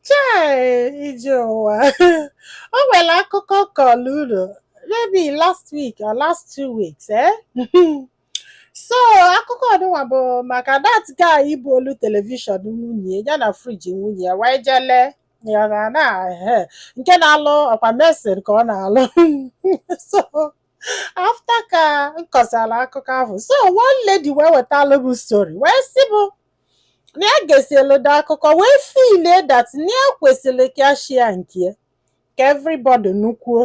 Chai ije ụwa o nwere akụkọ kọlụ unu maybe last week or last two weeks eh? so akụkọ ọdụnwa bụ maka that guy buulu telivishọn nwunye ya na friji nwunye ya wee je lee ya na na ehe, nke na-alụ ọkwa mesin ka ọ na-alụ so after ka m kọsara akụkọ ahụ so one lady wee wetara m story wee sị m na ya gesielu dị akụkọ wee feelie that na ya kwesịrị ka ya share nke ya ka everybody nụkwuo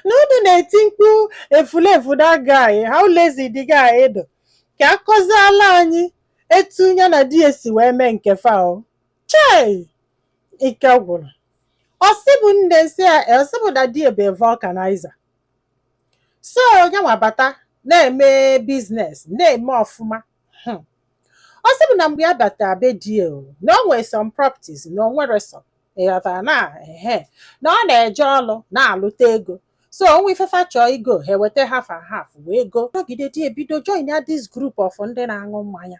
na unu na-eti mkpu efulefu that guy how lazy the guy dụ ka a kọziala anyị etu ya na di ya si wee mee nke fa o chei ike gwụrụ ọ sị mụ nne sị ya ọ sị mụ na di e bụ vulcanizer so nye wee bata na-eme business na-eme ọfụma Hmm. ọ sị mụ na mgbe ya bata be di ya o, na o nwere some properties na o nwere some ị ghọtara na ehe na ọ na-eje ọlụ na-alụta ego so o nwe ife fa chọọ igo ha eweta half and half wee go nọgide di e bido join ya this group of ndị na-aṅụ mmanya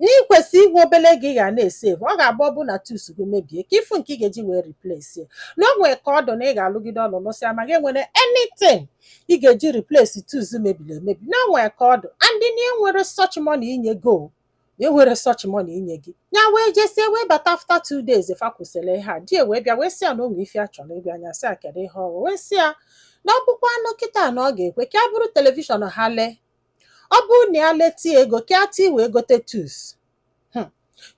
na i kwesị inwe obele ego ị ga na-esevu ọ ga-abụ ọ bụ na tools gị mebie ka ị fụ nke ị ga-eji wee replace na o nwere ka ọ dụ na ị ga-alụgide ọlụ lụsịa ma gị enwere anything ị ga-eji replace tools mebiri emebi na o nwere ka ọ dụ and na enwere such money inye gị o na enwere such money inye gị ya wee jesie wee bata after two days fa kwusịrị ihe a di e wee bịa wee sị ya na o nwe ife a chọrọ ịgwa ya nya sị ya kedu ihe ọ bụ o wee sị ya na ọ bụkwanụ kịta na ọ ga-ekwe ka e buru telivishọn ha lee ọ bụrụ na ya leta ego ka e tii wee gote tools hmm.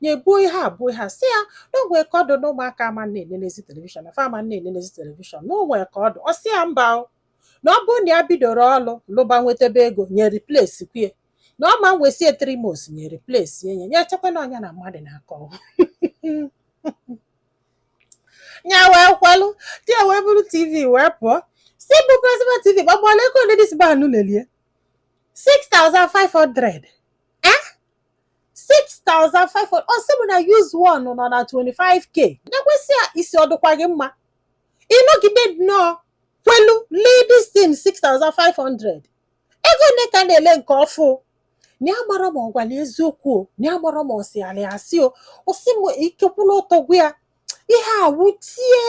nye buo ihe abụọ ha sị ya na o nwe ka ọ dụ na ụmụaka ama na-enenezi telivishọn na fa ama na-enenezi telivishọn na o nwe ka ọ dụ ọ sị ya mba na ọ bụrụ na ya bidoro ọlụ lụba nwetebe ego nye replace kwue na ọ ma wesie three months nye replace nye nye chekwa na ọ nya na mmadụ na-akọ ya wee kwelụ di ya wee buru tv wee pụọ sị mụ plasma tv gbagbala ego ole this man lelie 6500 eh 6500 ọ sị m na used one nọ na 25k nye wee sị ya isi ọ dụkwa gị mma ịnọgide nnọọ kwelu lee this thing 6500 ego ole ka a na-ele nke ọfụ na ya marọ ma ọ gwara eziokwu o na ya marọ ma ọ sịala ya asị o ọ sị m ike okwu na ọtọ gwụ ya ihe a wutie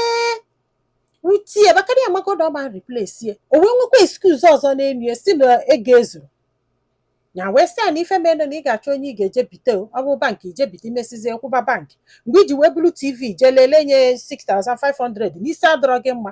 wutie maka na ya magodo ọ ma replace o wee nwekwa excuse ọzọ n'elu ya sị na ego ezurọ ya wee sị ya na ife mere na ị ga-achọ onye ị ga-eje bite o ọ bụ bankị i je bite i mesịzie kwụba bankị mgbe i ji wee buru tv jee lelee nye 6500 na isi adụrọ gị mma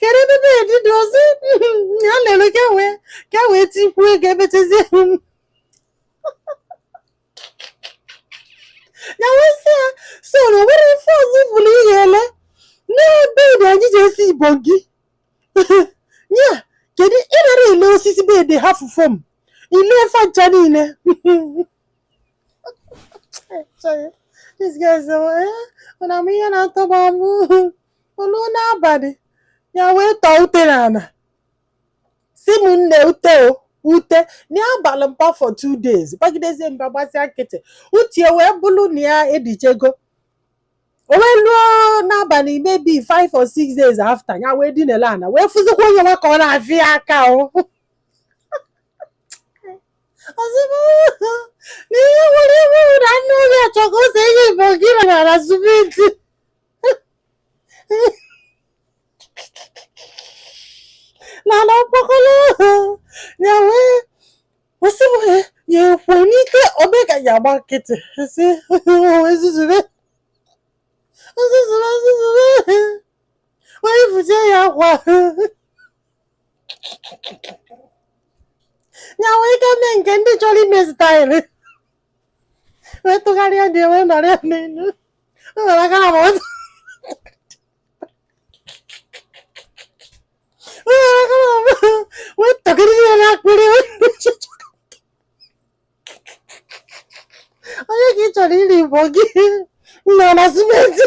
kedu ebe bed dị ọ sị ya lere ka wee ka wee tikwuo ego emetezie ya wee sị ya so na o nwere ife ọzọ ị fụrụ ị ya-ele na bed anyị ji ese ibongi ya kedu ị nara ele osisi bed hafụ foam i lee ife ncha niile This guy sị ya nne m ihe na-atọgbu m o luo n'abalị ya wee tọọ ute n'ala sị m nne ute o ute n'abalị mba for two days gbagidezie mba gbazia nkịtị ute wee bụrụ na ya edichego o wee luo n'abalị maybe five or six days after ya wee dinele ana wee fụzikwa onye nwa ka ọ na-afịa aka o n'ihe nwere iwu na nne obi achọ ka o see ibongi na ana simenti na ana ọkpọkọlọ ya wee kwụsị m ya ekwe n'ike obe ka ya agba nkịtị si ezuzube ezuzube ezuzube wee fụzie ya akwa ya wee ike mee nke ndị chọrọ ime style wee tụgharịa di wee nọrọ ya n'elu o were aka na mọtụ o were aka na mọtụ wee tọgide ya n'akpịrị wee nọchịchị onye ka ị chọrọ ise ibongi na ana simenti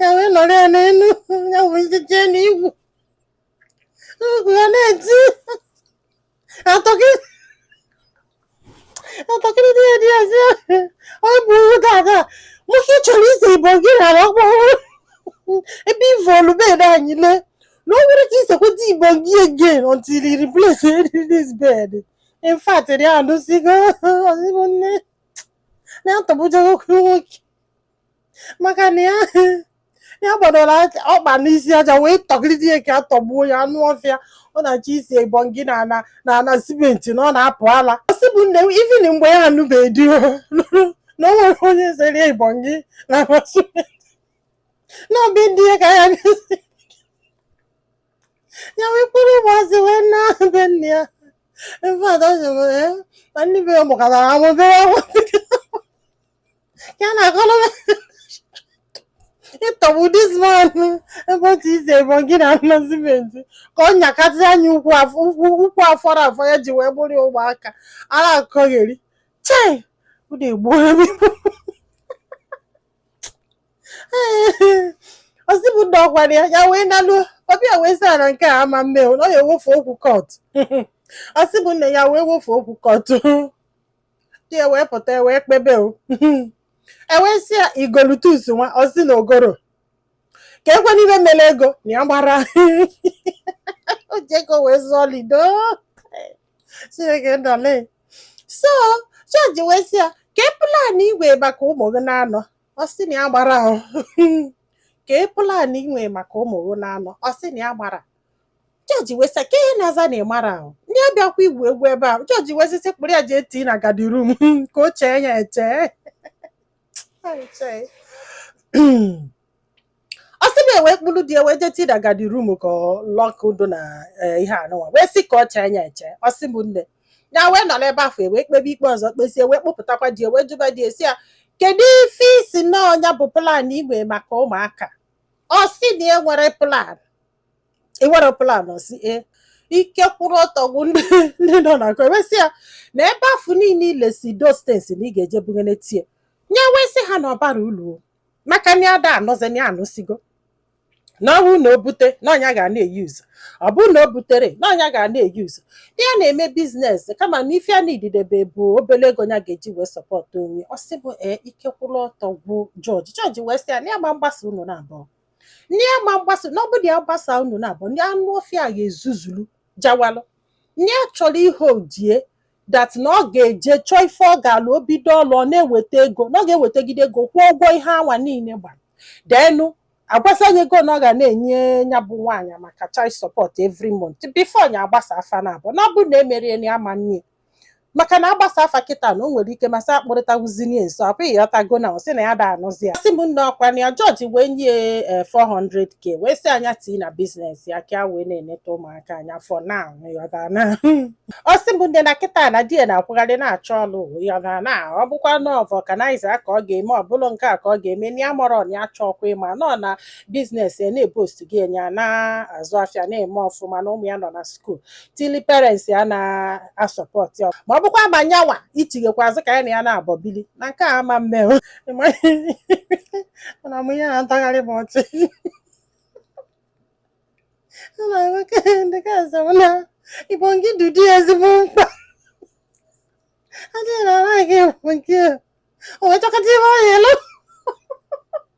ya wee nọrọ ya n'elu ya wee jije n'igwu ọgụ ya na-eti ya tọgide di ya di ya sị ọ bụ iwu dada nwoke chọrọ ise ibongi na ala ọkpọkọrọ ebe i vulu bed anyị lee na o nwere ka i sekweta ibongi again until you replace this bed in fact ri anụsigo ọ sị bụ nne na-atọbụjago okwu nwoke maka na ya ya gbadoro aja- ọkpa n'isi aja wee tọgide ya ka a tọgbuo ya anụ ọfịa ọ na-achọ ise ibongi na ana na ana simenti na ọ na-apụ ala ọ sị bụ nne m even mgbe ya anụbeghị di ya, na o nwere onye sere ibongi na ana simenti na ọbịa ndị ya ka ya na-esi ya wee kpụrụ ụmụazị wee naa be nne ya mfe ada jụrụ ya ma ndị be ya mụkọtara amụbere ya na akọrọ ịtọgbu this man ebe otu isi ebe gị na ana cement ka ọ nyakasị anya ukwu afọrọ afọ ya ji wee bụrụ ya ụmụaka ara akọgheri chai unu egbuola m ọ sị bụ di ya kwara ya ya wee naluo ọbịa wee sị na nke a ama mme na ọ ya ewefu okwu court ọ sị bụ nya wee wefu okwu court di ya wee pụta e wee kpebe o e wee sị ya igolutus nwa ọ sị na ogoro ka ekwe n'ibe mere ego na ya gbara o ji ego wee zụọ lido chineke ndale so jọji wee sị ya kee plan i nwe maka ụmụ gị na anọ ọ sị na ya gbara ahụ kee plan i nwe maka ụmụ gị na anọ ọ sị na ya gbara jọji wee sị ka ihe na-aza na ịmara ahụ ndị abịakwa igwu egwu ebe ahụ jọji wee sị sị kpụrụ ya jee tii na guardroom ka o chee ya eche ọ sị na e wee kpụrụ di ya wee jee tii na guardroom ka ọ lọkụdo na eh, ihe anụnwa wee sị ka ọ chee ya eche ọ sị bụ nya wee nọrọ ebe afụ e wee kpebe ikpe ọzọ kpesie wee kpụpụtakwa di ya wee jụba di ya sị ya kedu ife ị sị na ọ nya bụ plan i nwe maka ụmụaka ọ sị na e nwere plan i nwere plan ọ sị ee ike kwụrụ ọtọ gwụ ndị ndị nọ na court e wee sị ya na ebe afụ niile i lesi those things na ị ga-eje bugene tie nya wee sị ha na ọ barọ ulu o. maka na ada anụzi ya anụsigo na ọ bụrụ na o bute na ọ nya ga na-euse ọ bụrụ na o butere na ọ nya ga na-euse di ya na-eme business kama na ife ya needidebe bụ obere ego ya ga-eji wee support onwe ọ sị bụ ee ike kwụrụ ọtọ gwụ jọji jọji wee sị ya na ya ama mgbasa unu na abụọ na ya ama mgbasa na ọ bụ nya gbasa unu na abụọ ndị anụ ọfịa ga-ezuzulu jawalụ ndị a chọrọ ihe ọ dị that na ọ ga-eje chọọ ife ọ ga-alụ o bido ọlụ ọ na-eweta ego na ọ ga-ewetegide ego kwụọ ụgwọ ihe anwa niile gbara then agwasa ya ego na ọ ga na-enye ya bụ nwaanyị maka child support every month before nya agbasa afa na abụọ na ọ bụrụ na emerọ ya na ama mme maka na agbasa afa kịta na o nwere ike masị akpụrịtawuzinie nso ọ pụghị ị ghọtago na ọ sị na ya ada anụzi ya ọ sị m nne ọ kwa nya jọji wee nye ya 400k wee sị nya tii na business ya ka ya wee na-eneta ụmụaka anya for now ị ghọta na ọ sị m nne na kịta na di ya na-akwụgharị na-achọ ọlụ ị ghọta na ọ bụkwa na ọ vulcanizer ka ọ ga-eme ọ bụrụ nke a ka ọ ga-eme na ya amarọ na ya achọrọkwa ịma nọ na business ya na-eboost gị nya na-azụ afịa na-eme ọfụma na ụmụ ya nọ na school tili parents ya na-asupport ma ọ bụkwa ma nyanwa ichighakwa azụ ka ya na ya naabọ bili na nke a ama mme o. na mụ ya na-atagharị m ọchị Ọ na-agwa ka ndị ka asị m na ịbụ nke dị dị ezigbo mkpa adịghị na ara gị bụ nke o wee chọkọta ihe ọ ya elu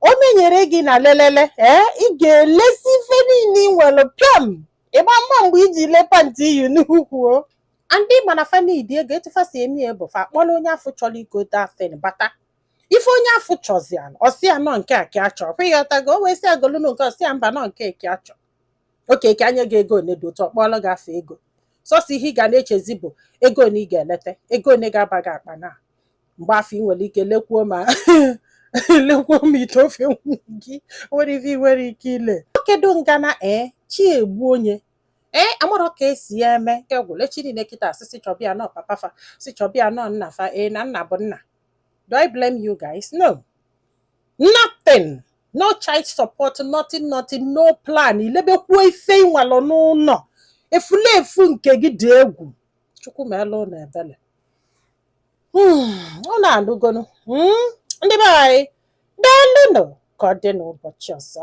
o menyere gị na lelele ee ị ga-elesi ife niile ị nwere pịam ịgba mma mgbe i ji lee pantị i yi n'ukwu o ndị ma na fa needị ego etu fa si eme ya bụ fa kpọrọ onye afụ chọrọ igote a thing bata ife onye afụ chọ zi ya ọ sị ya na nke a ka a chọ ịghọtago o wee sị ya golu nụ nke a ọ sị ya mba na nke a ka a chọ okay ka e nye gị ego one dị otu ọ kpọọrọ gị afọ ego sọsọ ihe ị ga na-echezi bụ ego one ị ga-eleta ego one ga-aba gị akpa na mgbe afụ ị nwere ike lekwuo ma lekwuo ma ite ofe gị nwere ife ị nwere ike ile kedu ngana ee chi egbu onye ee amarọ ka e si ya eme nke gwụle chi niile kịta asị si chọbịa nọ papa fa sị chọbịa nọ nna fa ee na nna bụ nna do i blame you guys no nothing no child support nothing nothing no plan i lebekwuo ife ị nwelu n'ụnọ efulefu nke gị dị egwu chukwu meelu nụ ebele unu hmm, a nụgo nụ hmm, ndị be anyị daalụnụ ka ọ dị n'ụbọchị ọzọ